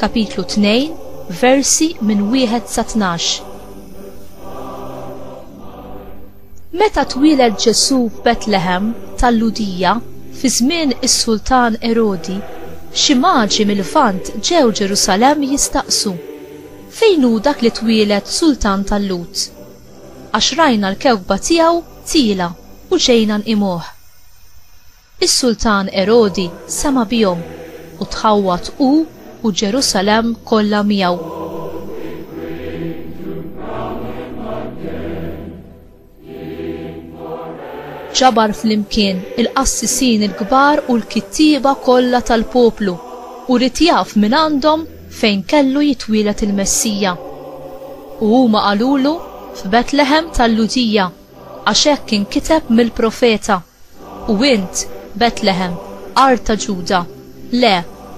Kapitlu 2, versi minn wieħed sa tnax. Meta twieled Ġesù f'Betlehem tal-Lhudija fi żmien is-Sultan Erodi, xi maġi mill-Lvant ġew Ġerusalemm jistaqsu, Fejn hu dak li twieled Sultan tal-Lhud? Għax rajna l-kewkba tiegħu tiela' u ġejna nqimuh. Is-Sultan Erodi sema' bihom, u tħawwad hu u Ġerusalemm kollha miegħu. Ġabar flimkien il-qassisin il-kbar u l-kittieba kollha tal-poplu, u ried jaf mingħandhom fejn kellu jitwieled il-Messija. U huma qalulu, F'Betleħem tal-Lhudija. Għax hekk inkiteb mill-profeta, U int, Betlehem, art ta' Ġuda, le,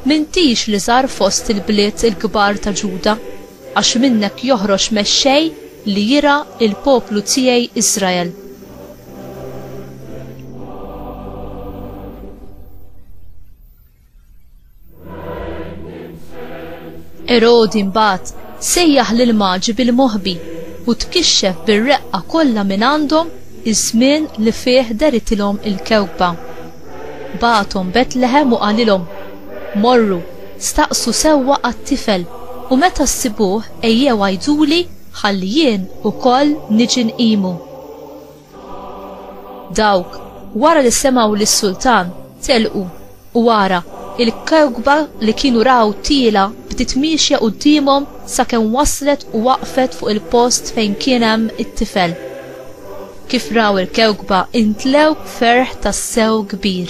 m'intix l-iżgħar fost il-bliet il-kbar ta' Ġuda, għax minnek joħroġ mexxej li jirgħa l-poplu tiegħi Israel. Erodi mbagħad sejjaħ lil maġi bil-moħbi u tkixxef bir-reqqa kollha minn għandhom iż-żmien li fih deritilhom il-kewkba. Bagħathom Betlehem u qalilhom, Morru, staqsu sewwa għat-tifel u meta ssibuh ejjew għiduli ħalli jien ukoll niġi nqimu. Dawk, wara li semgħu lis-sultan, telqu, u ara, il-kewkba li kienu raw tiela' bdiet miexja quddiemhom sakemm waslet u waqfet fuq il-post fejn kien hemm it-tifel. Kif raw il-kewkba intlew b'ferħ tassew kbir.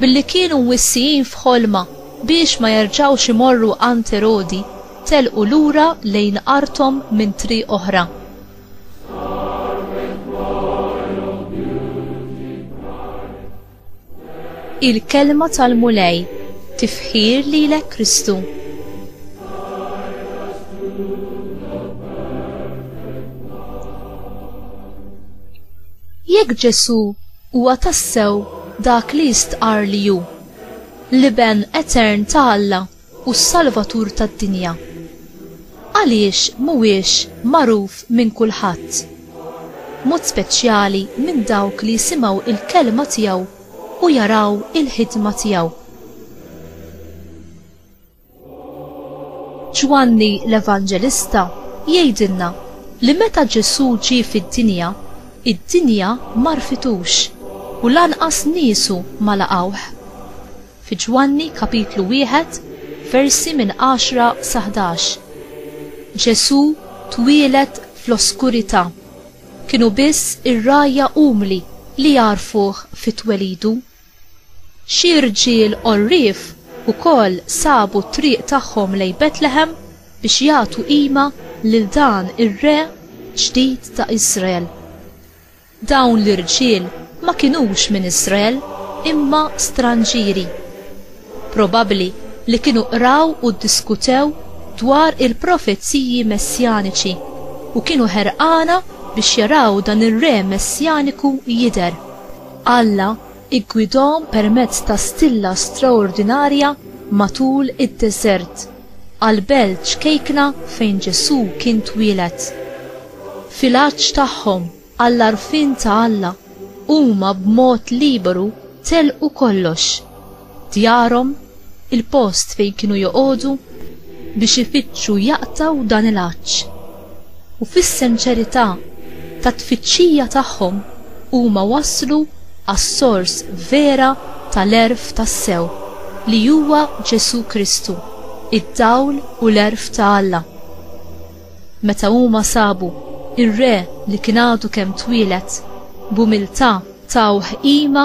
Billi kienu mwissijin f'ħolma biex ma jerġgħux imorru għand Erodi, telqu lura lejn arthom minn triq oħra. Il-Kelma tal-Mulej, Tifħir lilek Kristu. Jekk Ġesù Huwa tassew dak li jistqarr li hu, l-Iben etern ta' Alla u s-Salvatur tad-dinja. Għaliex m'huwiex magħruf minn kulħadd? B'mod speċjali minn dawk li jisimgħu l-kelma tiegħu u jaraw il-ħidma tiegħu. Ġwanni l-Evanġelista jgħidilna li meta Ġesù ġie fid-dinja, id-dinja m'għarfitux u lanqas niesu ma laqgħuh. Fi Ġwanni kapitlu wieħed, versi minn għaxra sa ħdax, Ġesù twieled fl-oskurità, kienu biss ir-rgħajja umli li għarfuh fi twelidu. Xi rġiel għorrief ukoll sabu t-triq tagħhom lejn Betlehem biex jagħtu qima lil dan ir-re ġdid ta' Iżrael. Dawn l-irġiel ma kinux minn Iżrael imma stranġieri. Probabbli li kienu qraw u ddiskutew dwar il-profeziji messjaniċi u kienu ħerqana biex jaraw dan ir-re messjaniku jidher. Alla ggwidahom permezz ta' stilla straordinarja matul id-deżert għall-belt ċkejkna fejn Ġesù kien twieled. Fil-għatx tagħhom għall-għarfien ta' Alla, huma b'mod liberu telqu kollox, djarhom, il-post fejn kienu joqogħdu biex ifittxu jaqtgħu dan il-għatx. U fis-senċerità tat-tfittxija tagħhom huma waslu għas-sors vera tal-għerf tassew li huwa Ġesù Kristu, id-dawl u l-għerf ta' Alla. Meta huma sabu r-Re li kien għadu kemm twieled, b'umiltà tawh qima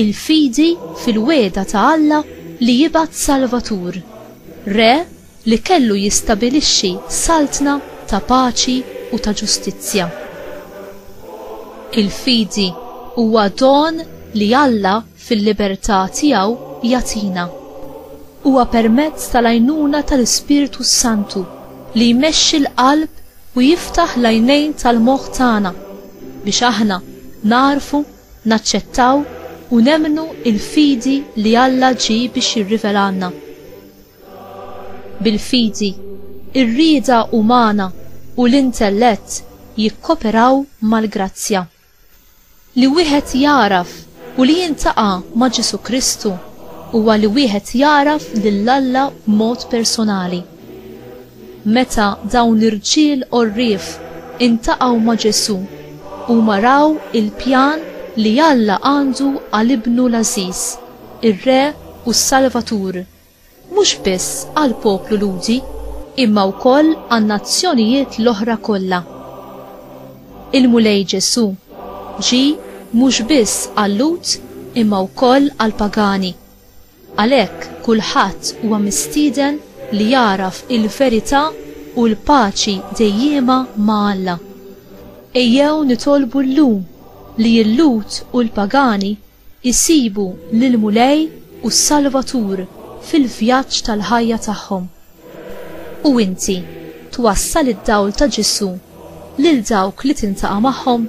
il-fidi fil-wegħda ta' Alla li jibgħat Salvatur, Re li kellu jistabilixxi saltna ta' paċi u ta' ġustizzja. Il-fidi huwa don li Alla fil-libertà tiegħu jagħtina. Huwa permezz tal-għajnuna tal-Ispirtu s-Santu li jmexxi l-qalb u jiftaħ l-għajnejn tal-moħħ tagħna biex aħna nagħrfu naċċettaw u nemmnu l-fidi li Alla ġie biex jirrivelhalna. Bil-fidi, ir-rieda umana u l-intellett jikkoperaw mal-grazzja. Li wieħed jagħraf u li jiltaqa' ma' Ġesù Kristu huwa li wieħed jagħraf lil Alla b'mod personali. Meta dawn l-irġiel għorrief intaqgħu ma' Ġesù, huma raw il-pjan li Alla għandu għal Ibnu l-għażiż, ir-Re u s-Salvatur, mhux biss għall-poplu Lhudi, imma wkoll għan-nazzjonijiet l-oħra kollha. Il-Mulej Ġesù ġie mhux biss għal-Lhud imma wkoll għall-pagani, Għalhekk kulħadd huwa mistieden li jagħraf il-verità u l-paċi dejjiema ma' Alla. Ejjew nitolbu llum li l-Lhud u l-pagani jsibu lill-Mulej u s-Salvatur fil-vjaġġ tal-ħajja tagħhom. U inti twassal id-dawl ta' Ġesù lil dawk li tiltaqa' magħhom?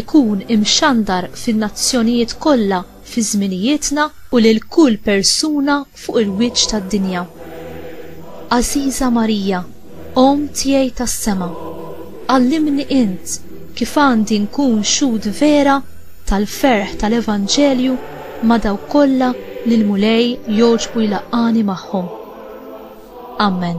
ikun imxandar fin-nazzjonijiet kollha fi żminijietna u lil kull persuna fuq il-wiċċ tad-dinja. Għażiża Marija, Omm tiegħi tas-sema, għallimni int kif għandi nkun xhud vera tal-ferħ tal-Evanġelju ma' dawk kollha li l-Mulej jogħġbu jlaqqagħni magħhom. Ammen.